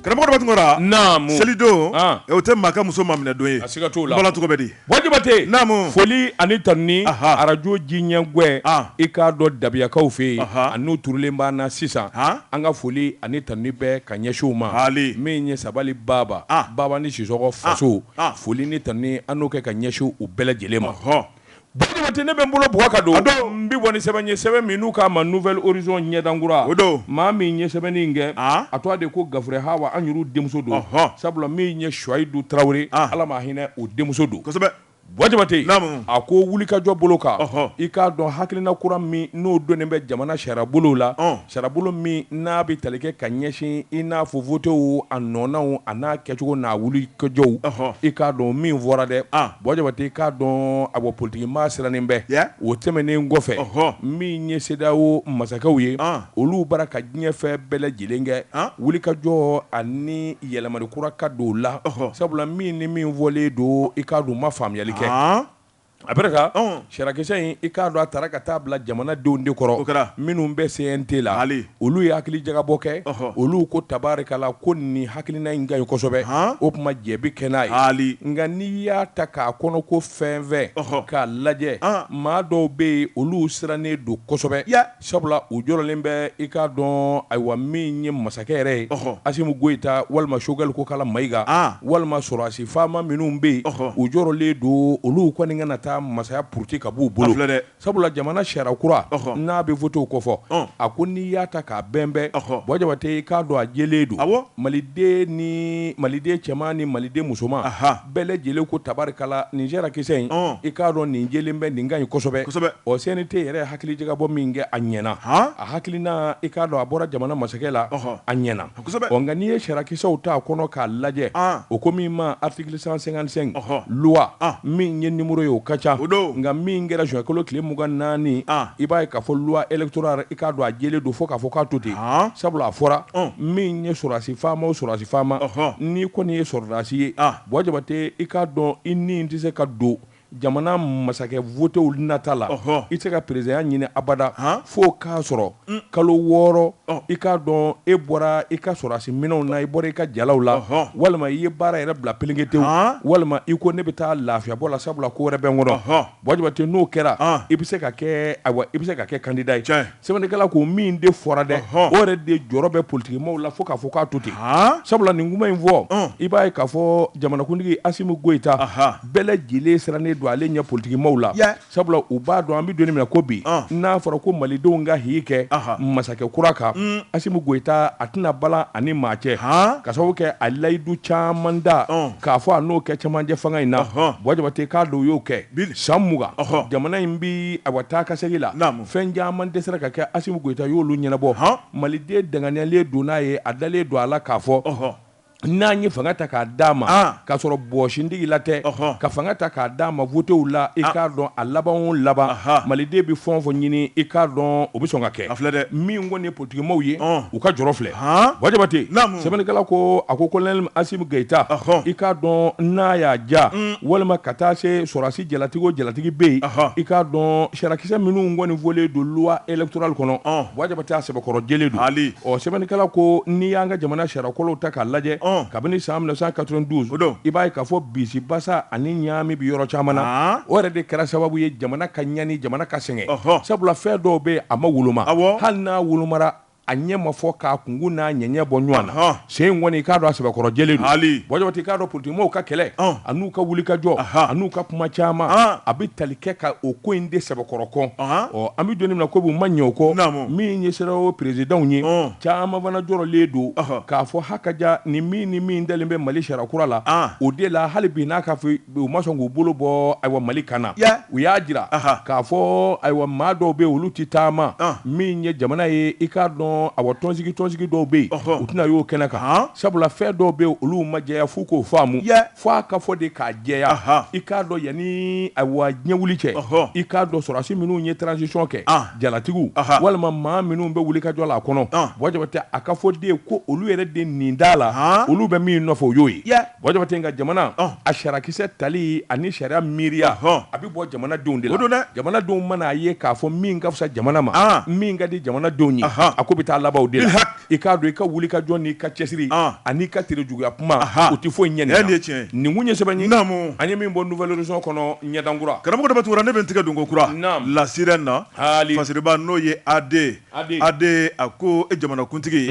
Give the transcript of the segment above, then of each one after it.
Karamɔgɔ dɔ tun kɛra na selidon o tɛ maa ka muso maminɛ don ye a siga t'o la ala tɔgɔ di Buwa Jabate naamu foli ani tanuni arajo jiɲɛgwɛ i k'a dɔn dabiyakaw fɛ yen a n'u turulen b'an na sisan an ka foli ani tanuni bɛɛ ka ɲɛsin u ma han min ye sabali baba Babani Sisɔkɔ faso foli ni tanuni an n'o kɛ ka ɲɛsin u bɛɛ lajɛlen ma hɔn Buwa Jabate ne bɛ n bolo bugɔ ka don n bɛ bɔ ni sɛbɛn ye sɛbɛn min n'u k'a ma Nouvel Horizon ɲɛdankura o don maa min ye sɛbɛnni in kɛ a tɔgɔ de ko Gafure Hawa an yɛrɛw denmuso don sabula min ye Suwayidu Tarawele ala ma hinɛ o denmuso don kosɛbɛ Buwa Jabate a ko wulikajɔ bolo kan i k'a dɔn hakilina kura min n'o donnen bɛ jamana sariyabolo la Sariyabolo min n'a bɛ tali kɛ ka ɲɛsin i n'a fɔ votew a nɔnaw a n'a kɛcogo n'a wulikajɔw i k'a dɔn min fɔra dɛ Buwa Jabate i k'a dɔn a bɔ politikimaa sirannen bɛ o tɛmɛnen kɔfɛ min ye CEDEAO masakɛw ye olu bara ka diɲɛ fɛn bɛɛ lajɛlen kɛ wulikajɔ ani yɛlɛmali kura ka don la sabula min ni min fɔlen don i k'a dɔn u ma faamuyali kɛ Après ça sariyakisɛ in i k'a dɔn a taara ka taa bila jamanadenw de kɔrɔ minnu bɛ CNT la han olu ye hakilijagabɔ kɛ olu ko tabarikala ko nin hakilina in ka ɲi kosɛbɛ o tuma jɛbi kɛ n'a ye nka n'i y'a ta k'a kɔnɔko fɛnfɛn k'a lajɛ maa dɔw bɛ yen olu sirannen don kosɛbɛ Sabula u jɔrɔlen bɛ i k'a dɔn ayiwa min ye masakɛ yɛrɛ ye Asimi Goyita walima Sogɛli Kokala Mayiga walima sɔrɔdasi faama minnu bɛ yen u jɔrɔlen don olu kɔni kana taa masaya puruti ka b'u bolo dɛ sabula jamana sariya kura n'a bɛ votew kɔfɔ a ko n'i y'a ta k'a bɛnbɛn Buwa Jabate i k'a dɔn a jɛlen don a maliden ni maliden cɛman ni maliden musoman bɛɛ lajɛlen ko tabarikala nin sariyakisɛ in ɔn i k'a dɔn nin jɛlen bɛ nin ka ɲi kosɛbɛ kosɛbɛ ɔ CNT yɛrɛ hakilijagabɔ min kɛ a ɲɛna han a hakilina i k'a dɔn a bɔra jamana masakɛ la ɔhɔ a ɲɛna kosɛbɛ ɔ nka n'i ye sariyakisɛw ta kɔnɔ k'a lajɛ an o ko min ma article 155 ɔhɔ loi an min ye nimoro ye o ka ca o don nka min kɛra juin kalo tile mugan ni naani an i b'a ye k'a fɔ loi électorale i k'a dɔn a jɛlen don fo k'a fɔ k'a to ten, han, sabula a fɔra, ɔn, min ye sɔrɔdasi faama o sɔrɔdasi faama, ɔhɔ, n'i kɔni ye sɔrɔdasi ye, an, Buwa Jabate i k'a dɔn i ni tɛ se ka don jamana masakɛ votew nata la, ɔhɔ, i tɛ se ka perezidanya ɲini abada, han, f'o k'a sɔrɔ, un, kalo wɔɔrɔ, ɔn, i k'a dɔn e bɔra i ka sɔrɔdasi minɛnw na, i bɔra i ka jalaw la, ɔhɔ, walima i ye baara yɛrɛ bila pelenketewu, han, walima i ko ne bɛ taa lafiyabɔ la sabula ko wɛrɛ bɛ n kɔnɔ, ɔhɔ. Jabate n'o kɛra i bɛ se ka kɛ awa i bɛ se ka kɛ kandida ye sɛbɛnnikɛla ko min de fɔra dɛ o yɛrɛ de jɔrɔ bɛ politigi maaw la fo k'a fɔ k'a to ten sabula nin kuma in fɔ i b'a ye k'a fɔ jamanakuntigi asimu goyita bɛɛ lajɛlen sirannen don ale ɲɛ politigi maaw la sabula u b'a dɔn an bɛ don min na ko bi n'a fɔra ko malidenw ka jigi kɛ masakɛ kura kan asimu goyita a tɛna balan a ni maa cɛ ka sababu kɛ a layidu caman da k'a fɔ a n'o kɛ cɛmancɛ fanga in na Buwa Jabate k'a dɔn u y'o kɛ san mugan jamana in bɛ awa taa ka segin la fɛn caman dɛsɛra ka kɛ Asimu Goyita y'olu ɲɛnabɔ Maliden danganiyalen don n'a ye a dalen don a la k'a fɔ n'an ye fanga ta k'a d'a ma k'a sɔrɔ bɔɔsintigi la tɛ ka fanga ta k'a d'a ma votew la i k'a dɔn a laban o laban Maliden bɛ fɛn o fɛn ɲini i k'a dɔn o bɛ sɔn ka kɛ min kɔni ye Politigi maaw ye u ka jɔrɔ filɛ Buwa Jabate sɛbɛnnikɛla ko a ko kolonɛli asimu goyita i k'a dɔn n'a y'a ja walima ka taa se sɔrɔdasi jalatigi o jalatigi bɛ yen i k'a dɔn sariyakisɛ minnu kɔni fɔlen don loi électorale kɔnɔ Buwa Jabate a sɛbɛkɔrɔ jɛlen don hali ɔ sɛbɛnnikɛla ko n'i y'an ka jamana sariyakolow ta k'a lajɛ kabini san mille neuf cent quatre-vingt-douze i b'a ye k'a fɔ bisibasa ani ɲaami bɛ yɔrɔ caman na o yɛrɛ de kɛra sababu ye jamana ka ɲani jamana ka sɛgɛn sabula fɛn dɔw bɛ a ma woloma hali n'a wolomara a ɲɛ ma fɔ k'a kungu n'a ɲɛɲɛ bɔ ɲɔgɔn na sen in kɔni i k'a dɔn a sɛbɛkɔrɔ jɛlen don Buwa Jabate i k'a dɔn politigi maaw ka kɛlɛ a n'u ka wulikajɔ a n'u ka kuma caman a bɛ tali kɛ ka o ko in de sɛbɛkɔrɔ kɔn an bɛ don min na ko bi ma ɲɛ o kɔ min ye CEDEAO peresidanw ye caman fana jɔrɔlen don k'a fɔ ha ka ja ni min ni min dalen bɛ mali sariya kura la o de la hali bi n'a ka fɔ U ma sɔn k'u bolo bɔ ayiwa mali kan na u y'a jira k'a fɔ ayiwa maa dɔw bɛ olu tɛ taama min ye jamana ye i k'a dɔn awa tɔnsigi tɔnsigi dɔw bɛ yen u tɛna y'o kɛnɛ kan sabula fɛn dɔw bɛ olu ma jɛya f'u k'o faamu fo a ka fɔ de k'a jɛya i k'a dɔn yanni ayiwa ɲɛ wuli cɛ i k'a dɔn sɔrɔdasi minnu ye transisiɔn kɛ jalatigiw walima maa minnu bɛ wulikajɔ la a kɔnɔ Buwa Jabate a ka fɔ de ko olu yɛrɛ de nin da la olu bɛ min nɔfɛ o y'o ye Buwa Jabate nka jamana a sariyakisɛ tali ani sariya miiriya a bɛ bɔ jamanadenw de la don dɛ jamanadenw mana a ye k'a fɔ min ka fisa jamana ma min ka di jamanadenw ye a ko bɛ taa laban o de la i k'a dɔn i ka wulikajɔ n'i ka cɛsiri an'i ka terejuguya kuma o tɛ foyi ɲɛ dɛ nin kun ye sɛbɛn ye an ye min bɔ Nouvel Horizon kɔnɔ ɲɛdankura karamɔgɔ Daba Tunkara ne bɛ n tigɛ don kokura La Sirène na fasiriba n'o ye AD AD a ko e jamanakuntigi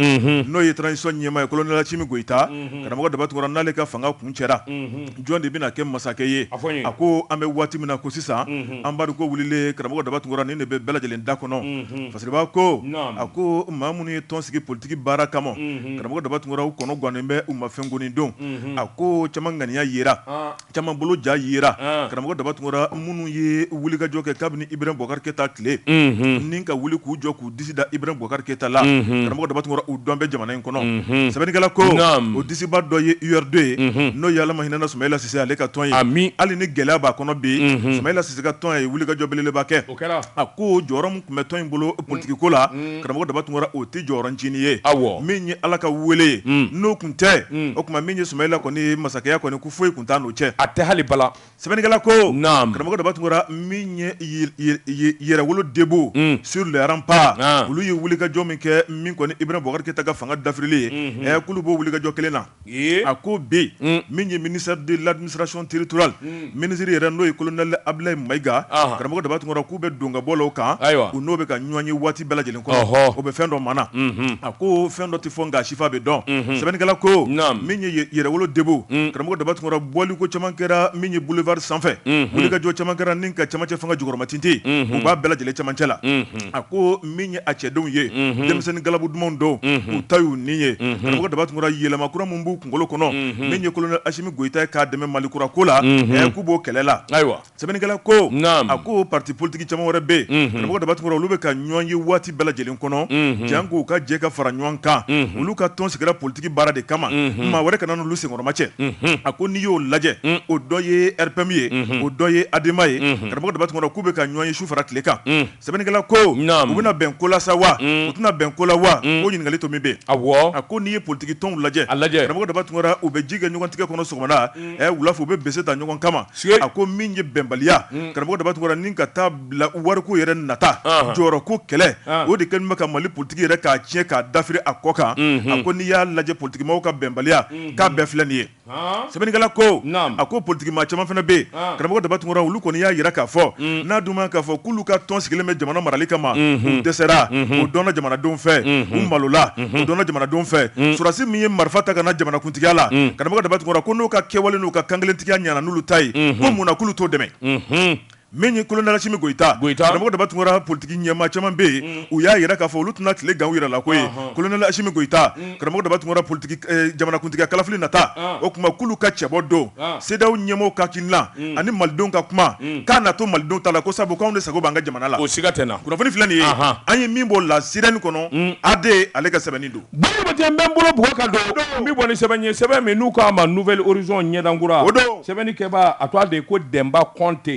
n'o ye transisiɔn ɲɛmaa ye kolonɛli asimi goyita karamɔgɔ daba tunkara n'ale ka fanga kuncɛra jɔn de bɛna kɛ masakɛ ye a ko an bɛ waati min na ko sisan an bari ko wulilen karamɔgɔ daba tunkara nin de bɛ bɛɛ lajɛlen da kɔnɔ fasiriba ko a ko maa minnu ye tɔn sigi politigi baara kama karamɔgɔ daba tunkara u kɔnɔgannen bɛ u ma fɛn kɔni don a ko caman ŋaniya jira Caman bolo ja yera karamɔgɔ Daba Tunkara minnu ye wulikajɔ kɛ kabini Iburahimu Bubakari Keyita tile ni ka wuli k'u jɔ k'u disi da Iburahimu Bubakari Keyita la karamɔgɔ Daba Tunkara u dɔn bɛ jamana in kɔnɔ sɛbɛnnikɛla ko o disiba dɔ ye URD ye n'o ye Ala ma hinɛna Sumayila Sise ale ka tɔn ye hali ni gɛlɛya b'a kɔnɔ bi Sumayila Sise ka tɔn ye wulikajɔ belebeleba kɛ a ko jɔyɔrɔ min tun bɛ tɔn in bolo politiki ko la karamɔgɔ Daba Tunkara o tɛ jɔyɔrɔ ncinin ye min ye Ala ka wele ye n'o tun tɛ o tuma min ye Sumayila kɔni masakɛya kɔni foyi tun t'a n'o cɛ a tɛ hali bala sɛbɛnnikɛla ko naam karamɔgɔ Daba Tunkara min ye yɛrɛwolo debout mm. sur le rempart ah. olu ye wulikajɔ min kɛ min kɔni Ibrahim Boubacar Keita ka fanga dafirili ye mm -hmm. k'olu b'o wulikajɔ kelen na a ko bi mm. min ye ministère de l'administration territoriale mm. ministre yɛrɛ n'o ye colonel Abdoulaye Maïga ah. karamɔgɔ Daba Tunkara k'u bɛ don ka bɔ la o kan u n'o bɛ ka ɲɔgɔn ye waati bɛɛ lajɛlen kɔnɔ o bɛ fɛn dɔ mana a ko fɛn dɔ tɛ fɔ nk'a sifa bɛ dɔn sɛbɛnnikɛla ko min ye yɛrɛwolo debout karamɔgɔ daba tunkara bɔli ko caman kɛra min ye boulevard sanfɛ wulikajɔ caman kɛra ni ka camancɛ fanga jukɔrɔmatintin u b'a bɛɛ lajɛlen camancɛ la a ko min ye a cɛdenw ye denmisɛnnin galabu dumanw don u ta y'u ni ye karamɔgɔ daba tunkara yɛlɛma kura min b'u kunkolo kɔnɔ min ye kolonɛli asimi goyita ye k'a dɛmɛ mali kura ko la k'u b'o kɛlɛ la ayiwa sɛbɛnnikɛla ko a ko pati politigi caman wɛrɛ bɛ yen karamɔgɔ daba tunkara olu bɛ ka ɲɔn ye waati bɛɛ lajɛlen kɔnɔ jank'u ka jɛ ka fara ɲɔgɔn kan olu ka tɔn sigira politigi baara de kama maa wɛrɛ kana n'olu senkɔrɔmacɛ a ko n'i y'o lajɛ o dɔ ye RPM ye o dɔ ye ADEMA ye karamɔgɔ daba tunkara k'u bɛ ka ɲɔn ye su fara tile kan Sɛbɛnnikɛla ko u bɛna bɛn ko la sa wa u tɛna bɛn ko la wa ko ɲininkali to min bɛ yen a ko n'i ye politigi tɔnw lajɛ karamɔgɔ daba tunkara u bɛ ji kɛ ɲɔgɔn tigɛ kɔnɔ sɔgɔmada wula fɛ u bɛ bese ta ɲɔgɔn kama a ko min ye bɛnbaliya karamɔgɔ daba tunkara ni ka taa bila wariko yɛrɛ nata jɔyɔrɔ ko kɛlɛ o de kɛlen bɛ ka mali politigi yɛrɛ k'a tiɲɛ k'a dafiri a kɔ kan a ko n'i y'a lajɛ politigi maaw ka bɛnbaliya k'a bɛɛ filɛ nin ye sɛbɛnnikɛla ko a ko politigi maa caman fana bɛ yen karamɔgɔ daba tunkara olu kɔni y'a yira k'a fɔ mm. n'a dun k'a fɔ k'olu ka tɔn sigilen bɛ jamana marali kama mm-hmm. u dɛsɛra mm-hmm. o dɔnna jamanadenw fɛ mm-hmm. u malola o dɔnna jamanadenw fɛ mm. sɔrɔdasi min ye marifa ta ka na jamanakuntigiya la mm. karamɔgɔ daba tunkara ko n'u ka kɛwale n'u ka kankelentigiya ɲana n'olu ta ye ko mun na k'olu t'o dɛmɛ Min ye kolonɛli asimi goyita karamɔgɔ daba tunkara politigi ɲɛmaa caman bɛ yen u y'a yira k'a fɔ olu tɛna tile gan u yɛrɛ la ko ye kolonɛli asimi goyita karamɔgɔ daba tunkara politigi jamanakuntigiya kalafili nata o tuma k'olu ka cɛbɔ don CEDEAO ɲɛmɔgɔw ka hakilina ani malidenw ka kuma k'a na to malidenw ta la ko sabu k'anw de sago b'an ka jamana la o siga tɛ na kunnafoni filɛ nin ye an ye min bɔ la sirène kɔnɔ AD ale ka sɛbɛnni don Bɔ Jabate n bɛ n bolo bugɔ k'a don n bɛ bɔ ni sɛbɛn ye sɛbɛn min n'u k'a ma Nouvel Horizon ɲɛdankura o don sɛbɛnnikɛba a tɔgɔ de ye ko Denba Kɔnte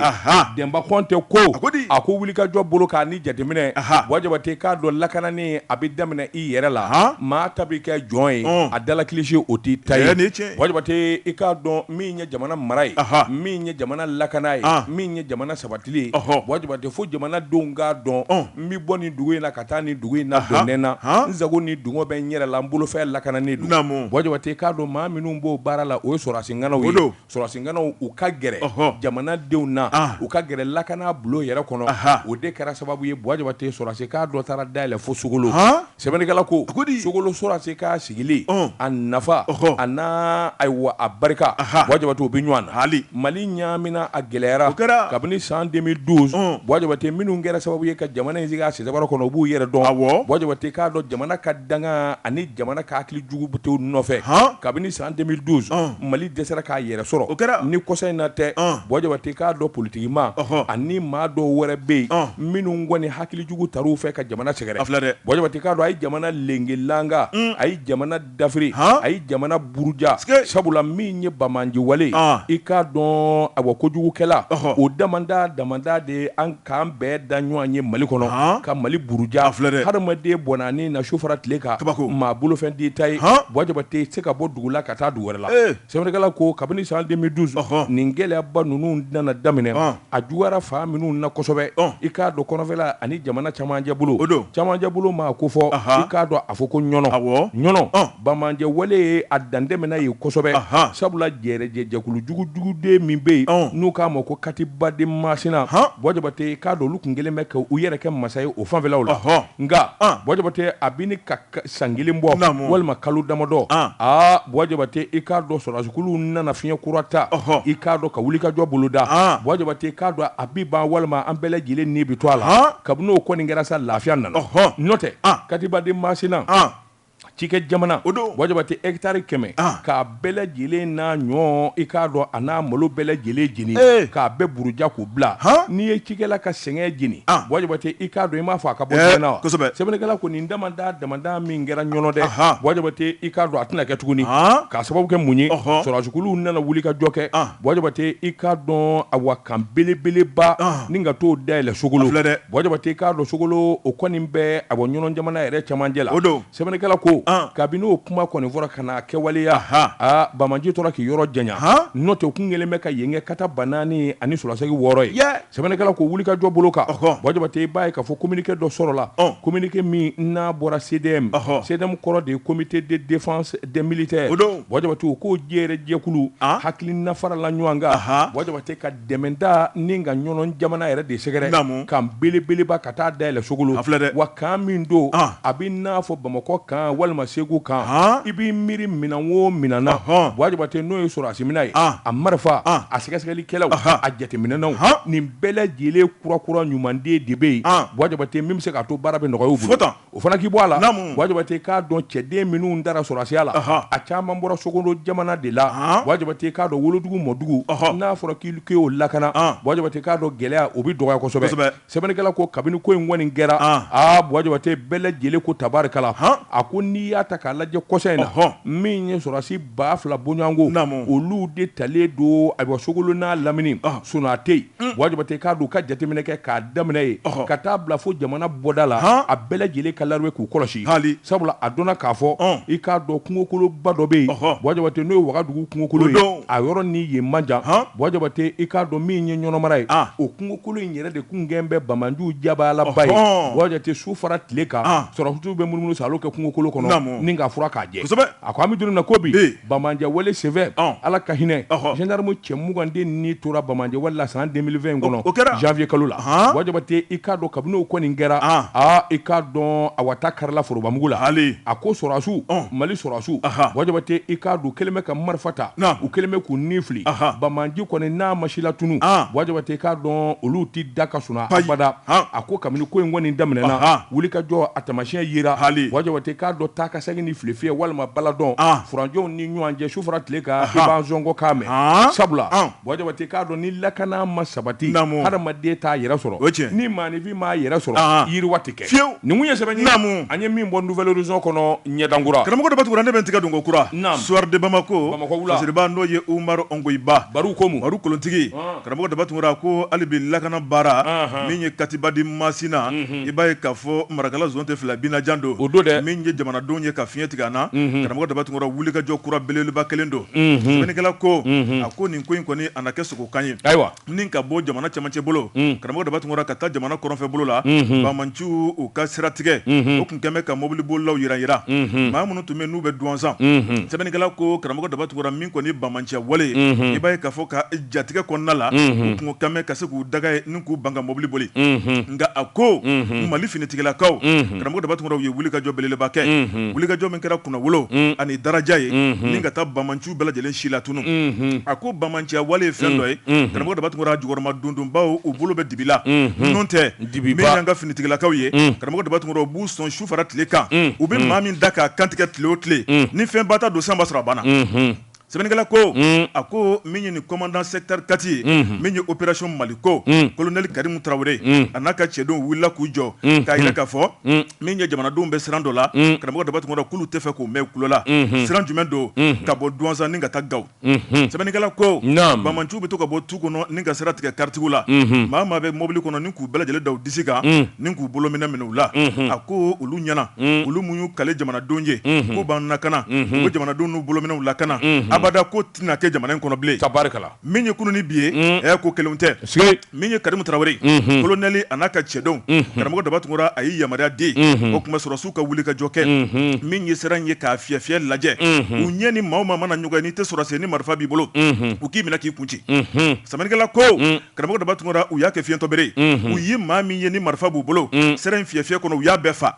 Denba Kɔnte ko a ko wulikajɔ bolo k'a ni jateminɛ Bɔ Jabate i k'a dɔn lakanani a bɛ daminɛ i yɛrɛ la maa ta bɛ kɛ jɔn ye a dala kilisi o t'i ta ye Bɔ Jabate i k'a dɔn min ye jamana mara ye min ye jamana lakana ye min ye jamana sabatili ye Bɔ Jabate fo jamanadenw k'a dɔn N bɛ bɔ nin dugu in na ka taa nin dugu in na don ne na n sago ni dungɔ bɛ n yɛrɛ la n bolofɛn lakananen don Bɔ Jabate k'a dɔn maa minnu b'o baara la o ye sɔrɔsi ŋanaw ye don sɔrɔsi ŋanaw u ka gɛrɛ jamanadenw na u ka gɛrɛ lakana bulon yɛrɛ kɔnɔ o de kɛra sababu ye Bɔ Jabate sɔrɔsi kan dɔ taara dayɛlɛn fo Sogolo Sɛbɛnnikɛla ko a ko di Sogolo sɔrɔdasi kan sigili a nafa a n'a ayiwa a barika Bɔ Jabate o bɛ ɲɔgɔn na hali mali ɲaamina a gɛlɛyara kɛra kabini san deux mille douze Bɔ Jabate minnu kɛra sababu ye ka jamana in sigi a sɛbara kɔnɔ u b'u yɛrɛ dɔn a Bɔ Jabate k'a dɔn jamana ka danga ani jamana ka hakili jugu b'u nɔfɛ kabini san deux mille douze mali dɛsɛra k'a yɛrɛ sɔrɔ o kɛra ni kɔsa in na tɛ Bɔ Jabate k'a dɔn politigimaa ani maa dɔw wɛrɛ bɛ yen minnu kɔni hakili jugu ta u fɛ ka jamana sɛgɛrɛ dɛ Bɔ Jabate k'a dɔn a ye jamana lenkelanka a ye jamana dafiri a ye jamana buruja sabula min ye banbaanci wale i k'a dɔn awa kojugukɛla o dama dama de ye an k'an bɛɛ da ɲɔgɔn ye mali kɔnɔ ka mali buruja filɛ hadamaden bɔn'a ni na su fara tile kan kabako maa bolofɛn t'i ta ye Bɔ Jabate se ka bɔ dugu la ka taa dugu wɛrɛ la sɛbɛnnikɛla ko kabini san deux mille douze nin gɛlɛyaba ninnu nana daminɛ a juyara fan minnu na kosɛbɛ i k'a dɔn kɔnɔfɛla ani jamana camancɛ bolo o don camancɛ bolo maa ko fɔ i k'a dɔn a fɔ ko ɲɔnɔ awɔ ɲɔnɔ banbaanci wale ye a dantɛmɛna yen kosɛbɛ sabula jɛɛrɛjɛ jɛkulu jugujugu de min bɛ yen n'u k'a ma ko Katiba de Masina Bɔ Jabate i k'a dɔn olu tun kɛlen bɛ ka u yɛrɛ kɛ masa ye o fanfɛlaw la nka Bɔ Jabate a bɛ ɲini ka san kelen bɔ walima kalo damadɔ Bɔ Jabate i k'a dɔn sɔrɔsiw nana fiɲɛ kura ta i k'a dɔn ka wulikajɔ boloda Bɔ Jabate i k'a dɔn a bi ban walima an bɛɛ lajɛlen ni bɛ to a la kabini o kɔni kɛra sa lafiya nana n'o tɛ Katiba de Masina cikɛ jamana o don Bɔ Jabate hectare kɛmɛ bɛɛ lajɛlen n'a ɲɔ i k'a dɔn a n'a malo bɛɛ lajɛlen jeni k'a bɛɛ buruja k'u bila n'i ye cikɛla ka sɛgɛn jeni Bɔ Jabate i k'a dɔn i m'a fɔ a ka bɔ sɛgɛn na wa sɛbɛnnikɛla ko nin damada damada min kɛra Ɲɔnɔ dɛ Bɔ Jabate i k'a dɔn a tɛna kɛ tuguni k'a sababu kɛ mun ye sɔrɔsiw nana wulikajɔ kɛ Bɔ Jabate i k'a dɔn awa kan belebeleba ni ka t'o dayɛlɛn Sogolo Bɔ Jabate i k'a dɔn Sogolo o kɔni bɛ awa Ɲɔnɔ jamana yɛrɛ camancɛ la o don Sɛbɛnnikɛla ko kabini o kuma kɔni fɔra ka na a kɛwaleya, anhan, aa banbaanci tora k'i yɔrɔ janya, han, n'o tɛ u tun kɛlen bɛ ka yen kɛ kata ba naani ani solasegi wɔɔrɔ ye, yɛɛ, sɛbɛnnikɛla ko wulikajɔ bolo kan, ɔhɔ, Buwa Jabate i b'a ye k'a fɔ communiqué dɔ sɔrɔla, ɔn, communiqué min n'a bɔra CDM, ɔhɔ, CDM kɔrɔ de ye comité de défense des militaires, o don, Buwa Jabate o ko jɛrɛ jɛkulu, an, hakilina farala ɲɔgɔn kan, anhan, Buwa Jabate ka dɛmɛda ni ka Ɲɔnɔ jamana yɛrɛ de sɛgɛrɛ kan belebeleba ka taa dayɛlɛ sogolo filɛ wa kan min don a bɛ n'a fɔ bamakɔ kan walima segu kan i b'i miiri minɛn wo minɛn na Buwa Jabate n'o ye sɔrɔdasi minɛn ye a marifa a sɛgɛsɛgɛlikɛlaw a jateminɛnaw nin bɛɛ lajɛlen kurakura ɲumanden de bɛ yen Buwa Jabate min bɛ se k'a to baara bɛ nɔgɔya u bolo o fana k'i bɔ a la Buwa Jabate k'a dɔn cɛden minnu dara sɔrɔdasiya la a caman bɔra Sogolo jamana de la Buwa Jabate k'a dɔn wolodugu mɔdugu n'a fɔra k'i k'o lakana Buwa Jabate k'a dɔn gɛlɛya o bɛ dɔgɔya kosɛbɛ sɛbɛnnikɛla ko kabini ko in kɔni kɛra aa Buwa Jabate bɛɛ lajɛlen ko tabarikala a ko n'i y'a ta k'a lajɛ kɔsa in na hɔn min ye sɔrɔdasi ba fila bɔɲɔgɔnko olu de talen don ayiwa Sogolo n'a lamini sun tɛ yen Buwa Jabate k'a dɔn ka jateminɛ kɛ k'a daminɛ yen ka taa bila fo jamana bɔda la a bɛɛ lajɛlen ka layidu ye k'u kɔlɔsi hali sabula a dɔnna k'a fɔ i k'a dɔn kungokoloba dɔ bɛ yen Buwa Jabate n'o ye wagadugu kungokolo ye a yɔrɔ ni yen man jan Buwa Jabate i k'a dɔn min ye Ɲɔnɔ mara ye o kungokolo in yɛrɛ de kun kɛlen bɛ banbaanciw jabaalaba ye Buwa Jabate su fara tile kan sɔrɔdasiw bɛ munumunu saalo kɛ kungokolo kɔnɔ ni k'a furan k'a jɛ A ko an bɛ don min na ko bi banbaanciya wale senfɛ ala ka hinɛ gendarme cɛ muganden ni tora banbaanciya wale la san deux mille vingt in kɔnɔ o kɛra janfiye kalo la Buwa Jabate i k'a dɔn kabini o kɔni kɛra aaa i k'a dɔn a waata karila forobamugu la hali a ko sɔrɔdasiw mali sɔrɔdasiw Buwa Jabate i k'a dɔn u kɛlen bɛ ka marifa ta u kɛlen bɛ k'u ni fili banbaanci kɔni n'a ma silatunun Buwa Jabate i k'a dɔn olu tɛ da ka suna abada a ko kabini ko in kɔni daminɛna wulikajɔ a taamasiyɛn yera hali Buwa Jabate k'a dɔn ta Ka segin ni file fiyɛ walima baladɔn, an, furanjɔw ni ɲɔgɔn cɛ su fara tile kan, i b'an sɔngɔ kan mɛn, haan, sabula, an, Buwa Jabate k'a dɔn ni lakana ma sabati, naamu, hadamaden t'a yɛrɛ sɔrɔ, o ye tiɲɛ ye, ni maanifin m'a yɛrɛ sɔrɔ, haan, yiriwa tɛ kɛ, fiyewu, nin tun ye sɛbɛn ye, naamu, an ye min bɔ Nouvel Horizon kɔnɔ ɲɛdan kura, karamɔgɔ Daba Tunkara ne bɛ n tigɛ don ko kura, naamu, Soir de Bamako, Bamakɔ wula, fasiriba n'o ye Umaru Ongoyiba, Baru Komu, Baru kolontigi, ɔn. Karamɔgɔ Daba Tunkara ko hali bi lakana baara min ye katiba di masina i b'a ye k'a fɔ Marakala zone tɛ fila binajan don o don dɛ min ye jamanadenw ye ka fiɲɛ tigɛ an na karamɔgɔ Daba Tunkara wulikajɔ kura belebeleba kelen don sɛbɛnnikɛla ko a ko nin ko in kɔni a na kɛ sogokan ye ayiwa ni ka bɔ jamana camancɛ bolo karamɔgɔ Daba Tunkara ka taa jamana kɔrɔnfɛ bolo la banbaanciw ka siratigɛ o tun kɛlen bɛ ka mobilibolilaw jira jira maa minnu tun bɛ n'u bɛ Duwansan sɛbɛnnikɛla ko karamɔgɔ Daba Tunkara kɔni banbaanciya wale i b'a ye k'a fɔ ka jatigɛ kɔnɔna la tun ka ka se k'u daga ye ni k'u ban ka mɔbili boli nka a ko mali finitigilakaw karamɔgɔ daba tunkara u ye wulikajɔ belebeleba kɛ wulikajɔ min kɛra kunnawolo ani daraja ye ni ka taa banbaanci bɛɛ lajɛlen silatunu a ko banbaanciya wale ye fɛn dɔ ye karamɔgɔ daba tunkara jukɔrɔma dondonbaw u bolo bɛ dibi la n'o tɛ min ye an ka finitigilakaw ye karamɔgɔ daba tunkara u b'u sɔn fara tile kan u bɛ maa min da k'a kantigɛ tile o tile ni fɛn ba ta don san b'a sɔrɔ a banna sɛbɛnnikɛla ko a ko min ye nin komandan sɛkitɛri katiri ye min ye operasɔn maliko kolonɛli karimu tarawele a n'a ka cɛdenw wulila k'u jɔ k'a yira k'a fɔ min ye jamanadenw bɛ siran dɔ la karamɔgɔ daba tunkara k'olu tɛ fɛ k'o mɛn kulo la sira jumɛn don ka bɔ duwansan ni ka taa gawo sɛbɛnnikɛla ko banbaanci bɛ to ka bɔ tu kɔnɔ ni ka sira tigɛ karitigiw la maa maa bɛ mobili kɔnɔ ni k'u bɛɛ lajɛlen da u disi kan ni k'u bolominɛn minɛ u la a ko olu ɲɛna olu minnu y'u kale jamanadenw ye k'u b'an lakana u bɛ jamanadenw n'u bolominɛnw lakana abada k'o tɛna kɛ jamana in kɔnɔ bilen tabarikala min ye kunun ni bi ye ɛ ko kelen tɛ min ye karimu tarawele kolonɛli a n'a ka cɛdenw karamɔgɔ daba tunkara a ye yamaruya di o tuma sɔrɔdasiw ka wulikajɔ kɛ min ye sira ye k'a fiyɛfiyɛ lajɛ u ɲɛ ni maa maa mana ɲɔgɔn n'i tɛ sɔrɔdasi ye ni marifa b'i bolo u k'i minɛ k'i kun ci sɛbɛnnikɛla ko karamɔgɔ daba tunkara u y'a kɛ fiyentɔ bere u ye maa min ye ni marifa b'u bolo sira in fiyɛfiyɛ kɔnɔ u y'a bɛɛ faa